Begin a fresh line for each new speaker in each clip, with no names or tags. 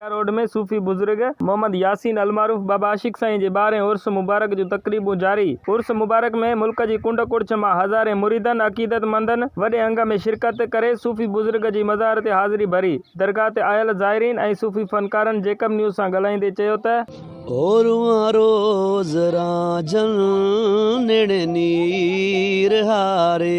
ڪنڊيا road ۾ صوفي بزرگ محمد ياسين المعروف بابا عاشق سائين جي ٻارهين عرس مبارڪ جون تقريبون جاري عرس مبارڪ ۾ ملڪ جي ڪنڊ ڪڙڇ مان هزارين مريدن عقيدت مندن وڏي انگ ۾ شرڪت ڪري صوفي بزرگ جي مزار تي حاضري ڀري درگاهه تي آيل زائرين ۽ صوفي فنڪارن جيڪب نيوز سان ڳالهائيندي چيو ته. او روئان روز
رانجهن نيڻي نير هاري.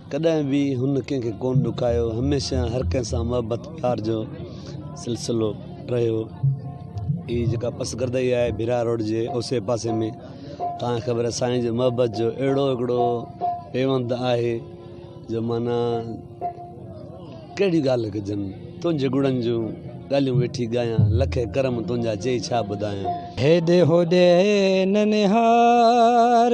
ڪڏهن به هن ڪنهن کي ڪونه ڏکايو، هميشه هر ڪنهن سان محبت پيار جو سلسلو رهيو. هي جيڪا پس گردئي آهي ڀيرا روڊ جي اوسي پاسي ۾ تان کي خبر آهي سائين جي محبت جو اهڙو هڪڙو پيوند آهي جو معنيٰ ڪهڙيون ڳالهيون ڪجن تنهنجي گڙن جون ڳالهيون ويٺي ڳايان لکي ڪرم تنهنجا چئي ڇا ٻڌايان. هيڏي هوڏي
ننهار.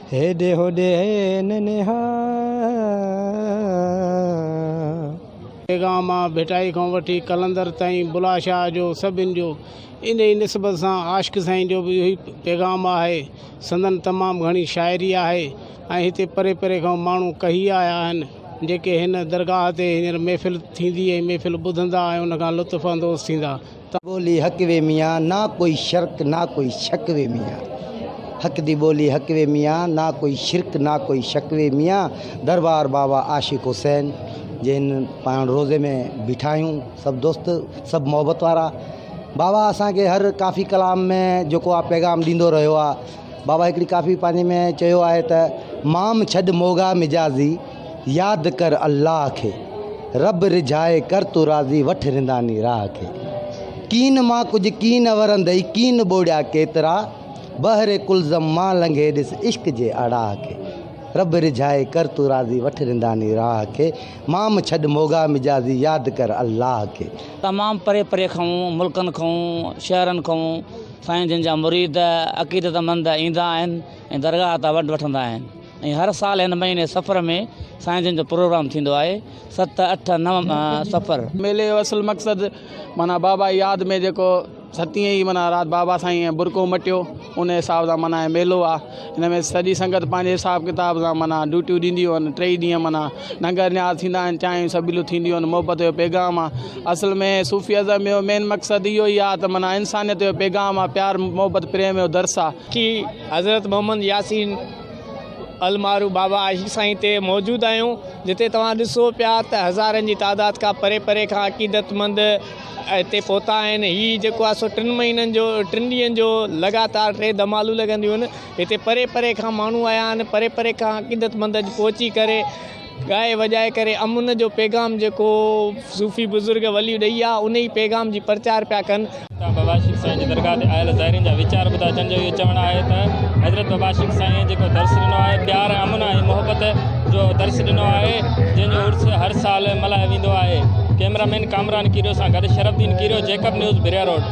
هيڏي هوڏي هين نهان.
پيغام آ ڀٽائي کان وٺي قلندر تائين بلا شاهه جو سڀن جو انهي نسبت سان عاشق سائين جو به اهوئي پيغام آهي سندن تمام گهڻي شاعري آهي ۽ هتي پري پري کان ماڻهو ڪهي آيا آهن جيڪي هن درگاهه تي هينئر محفل ٿيندي ۽ محفل ٻڌندا ۽ ان کان لطف اندوز ٿيندا ته ٻولي حق وي
ميان، نه ڪوئي شرڪ نه ڪوئي شڪ وي ميان. حق دي ٻولي حق وي ميان، نه ڪوئي شرڪ نه ڪوئي شڪ وي ميان. دربار بابا عاشق حسين جن پاڻ روضي ۾ بيٺا آهيون سڀ دوست سڀ محبت وارا بابا اسان کي هر ڪافي ڪلام ۾ جيڪو آ پيغام ڏيندو رهيو آ بابا هڪڙي ڪافي پنهنجي ۾ چيو آهي ته مام ڇڏ موڳا مجازي ياد ڪر الله کي، رب رجھائي ڪر تون راضي وٺ رنداني راھ کي. ڪين مان ڪجھ ڪين ورندئي ڪين ٻوڙيا ڪيترا، بحر قلزم مان لنگھي ڏس عشق جي اڙاھ کي. رب رجھائي ڪر تون راضي وٺ رنداني راھ کي، مام ڇڏ موڳا مجازي ياد ڪر الله کي. تمام پري پري
کئون ملڪن کئون شهرن کئون سائين جن جا مريد عقيدت مند ايندا آهن ۽ درگاهه تان ونڊ وٺندا آهن ۽ هر سال هن مهيني صفر ۾ سائين جن جو پروگرام ٿيندو آهي ست اٺ نو صفر. ميلي جو اصل مقصد
معنيٰ بابا جي ياد ۾ جيڪو ستين ئي معنيٰ رات بابا سائين برقعو مٽيو ان حساب سان معنيٰ هي ميلو آ ان ۾ سڄي سنگت پنهنجي حساب ڪتاب سان معنيٰ ڊيوٽيون ڏينديون آهن ٽئي ڏينهن معنيٰ ننگر نياز ٿيندا آهن چانهيون سبيلون ٿينديون آهن محبت جو پيغام آ اصل ۾ صوفي ازم جو مين مقصد اهو ئي آ ته معنيٰ انسانيت جو پيغام آ پيار محبت پريم جو درس آ ڪي حضرت
محمد ياسين. المارو بابا عاشق سائين تي موجود آهيون جتي توهان ڏسو پيا ته هزارن جي تعداد کان پري پري کان عقيدت مند هتي پهتا آهن هي جيڪو آهي سو ٽن مهينن جو ٽن ڏينهن جو لڳاتار ٽي دمالون لڳنديون آهن هتي پري پري کان ماڻهو آيا آهن پري پري کان عقيدت مند پهچي ڪري ڳائي وڄائي ڪري امن جو پيغام جيڪو صوفي بزرگ ولي ڏئي ها انهي پيغام جي پرچار پيا ڪن. اتان بابا شيخ سائين جي درگاهه تي آيل زائرين جا ويچار ٻڌا جن جو اهو چوڻ آهي ته حضرت بابا شيخ سائين جيڪو درس ڏنو آهي پيار ۽ امن ۽ محبت جو درس ڏنو آهي جنهن جو عرس هر سال ملهايو ويندو آهي ڪئميرا مين ڪامران ڪيريو سان گڏ Sharaf Uddin Kerio Jacob news Baria road.